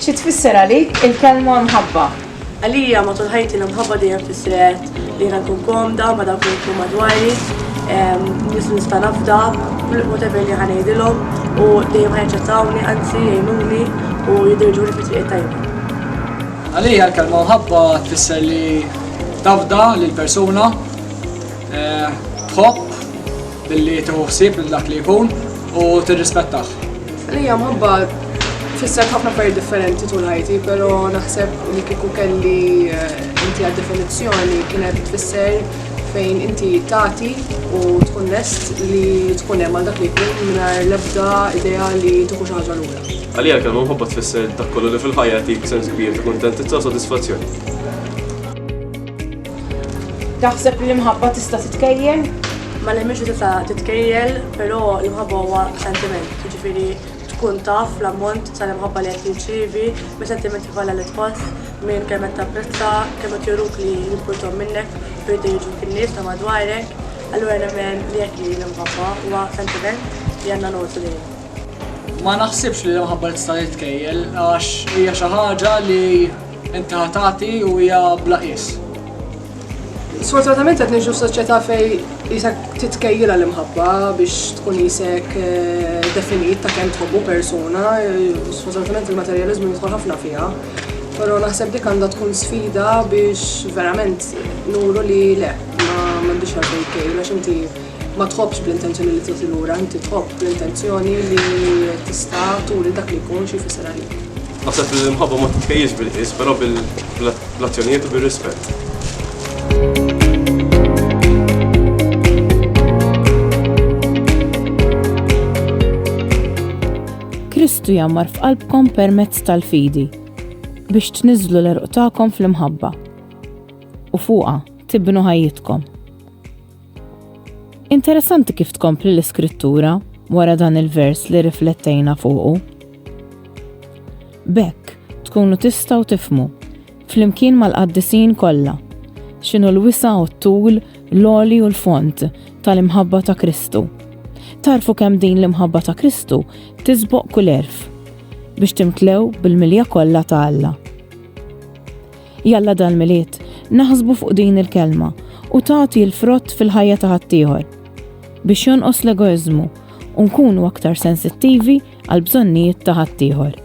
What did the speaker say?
Xi tfisser għalik il-kelma mħabba? Għalija matul ħajti l-imħabba dejjem fissret Li jiena nkun komda ma' dawk li jidħlu madwari, nies li nista' nafda, whatever li ħa ngħidilhom u dejjem ħa jaċċettawni anzi jgħinuni u jiddirġuni fit-triq it-tajba. Għalija l-kelma mħabba tfisser li tafda lil persuna, tħobb, Billi tieħu ħsieb lil dak li jkun u tirrispettah. Għalija mħabba tfisser ħafna affarijiet differenti tul ħajti, però naħseb li kieku kelli eh, inti għad definizzjoni kienet tfisser fejn inti tagħti u tkun lest li tkun hemm għal dak li jkun mingħajr l-ebda idea li tieħu xi ħaġa lura. Għalija kemm mħabba tfisser dak kollu li fil-ħajja jtik sens kbir ta' kuntentizza u sodisfazzjoni. Taħseb li l-imħabba tista' titkejjel? Ma nemminx li tista' titkejjel, però l-imħabba huwa sentiment, jiġifieri tkun taf l-ammont tal-imħabba li qed tirċievi minn sentimenti bħala li tħoss, minn kemm qed tapprezza, kemm qed juruk li jimpurtom minnek u jridu jogħġbuk in-nies ta' madwarek. Allura nemmen li hekk hi l-imħabba, huwa sentiment li għandna ngħotu lejh. Ma naħsibx li l-imħabba tista' titkejjel għax hija xi ħaġa li. Inti ħa tagħti u hija bla qies. Sfortunatament qed ngħixu f'soċjetà fejn qisek titkejjilha l-imħabba biex tkun qisek eh, definit ta' kemm tħobbu persuna, eh, sfortunatament il-materjaliżmu jidħol ħafna fiha. Però naħseb dik għandha tkun sfida biex verament nuru li le, ma m'għandix għalfejn kejl għax inti Ma tħobbx bl-intenzjoni li tagħti lura, inti tħobb bl-intenzjoni li tista' turi dak li jkun xi jfisser għalik. Naħseb li l-imħabba ma titkejjilx bil-qies, però bil-azzjonijiet u bir-rispett. Kristu jammar f'qalbkom permezz tal-fidi biex tniżlu l-erq tagħkom fl-imħabba u fuqha tibnu ħajjitkom. Interessanti kif tkompli l-iskrittura wara dan il-vers li riflettejna fuqu. Bekk, tkunu tistaw tifmu, flimkien mal-qaddisin kollha, x'inhu l-wisa u t-tul, l-oli u l-font tal-imħabba ta' Kristu. Tarfu kemm din l-imħabba ta' Kristu tiżboq kull erf biex timtlew bil-milja kollha ta' Alla. Jalla dal-Milied naħsbu fuq din il-kelma u tagħti l-frott fil-ħajja ta' ħaddieħor. Biex jonqos l-egoiżmu u nkunu aktar sensittivi għall-bżonnijiet ta' ħaddieħor.